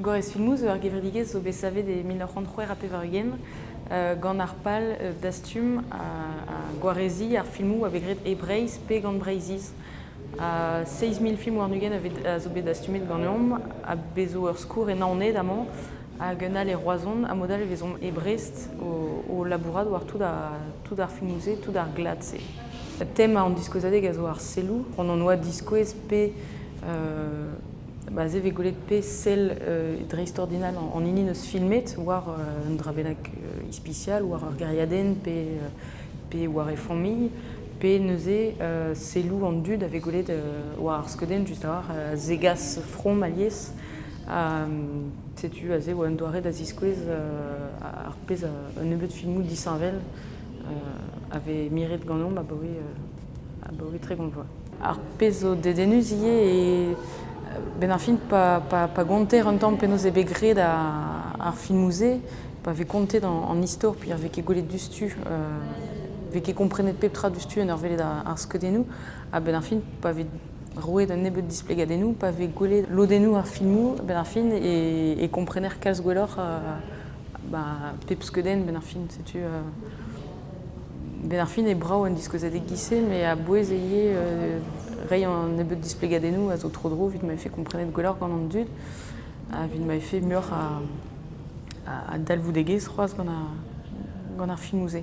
Gorez-filmoù zo ur gevredigezh zo bet savet e mil nav c'hant c'hwec'h ha pevar-ugent gant ar pal dastum ha gwareziñ ar filmoù a vez graet e Breizh pe gant Breizhiz. Seizh mil film warn-ugent a zo bet dastumet ganeomp ha bez' zo ur skourr e Naoned amañ hag un all e Roazhon. A-mod-all e vezomp e Brest o labourat war tout ar filmoù-se, tout ar glad-se. Tem an diskouezadeg a zo ar selloù. Hon hon oa diskouez pe Bah, se vez gwelet pe sell euh, dreist-ordinal an hini neus filmet war euh, un dra bennak euh, ispisial, war ur gériadenn pe, euh, pe war e familh, pe neuze euh, selloù an dud a vez gwelet euh, war ar skeudenn just a-walc'h a zegas from alies. Ha mm, setu aze oa un doare da ziskouez euh, ar pezh a- un nebeud filmoù disheñvel euh, a vez miret ganeomp abaoe, euh, abaoe tregont vloaz. Ar pezh zo dedennus ivez eo benn ar fin pa gonter un tamm penaos eo bet graet ar filmoù-se, pa vez kontet an istor peogwir vez ket gwelet diouzhtu, vez ket komprenet pep tra diouzhtu en ur welet ar skeudennoù, ha benn ar fin pa vez roet un nebeud displegadennoù, pa vez gwelet lodennoù ar filmoù, benn ar fin e komprener kalz gwelloc'h ba pep skeudenn benn ar fin, setu... Benn ar fin eo brav an diskouezadeg giz-se, met a-bouez e ivez reiñ an nebeud displegadennoù a zo tro-dro evit ma vefe komprenet gwelloc'h gant an dud, ha evit ma vefe muioc'h a, dalvoudegezh c'hoazh gant ar filmoù-se.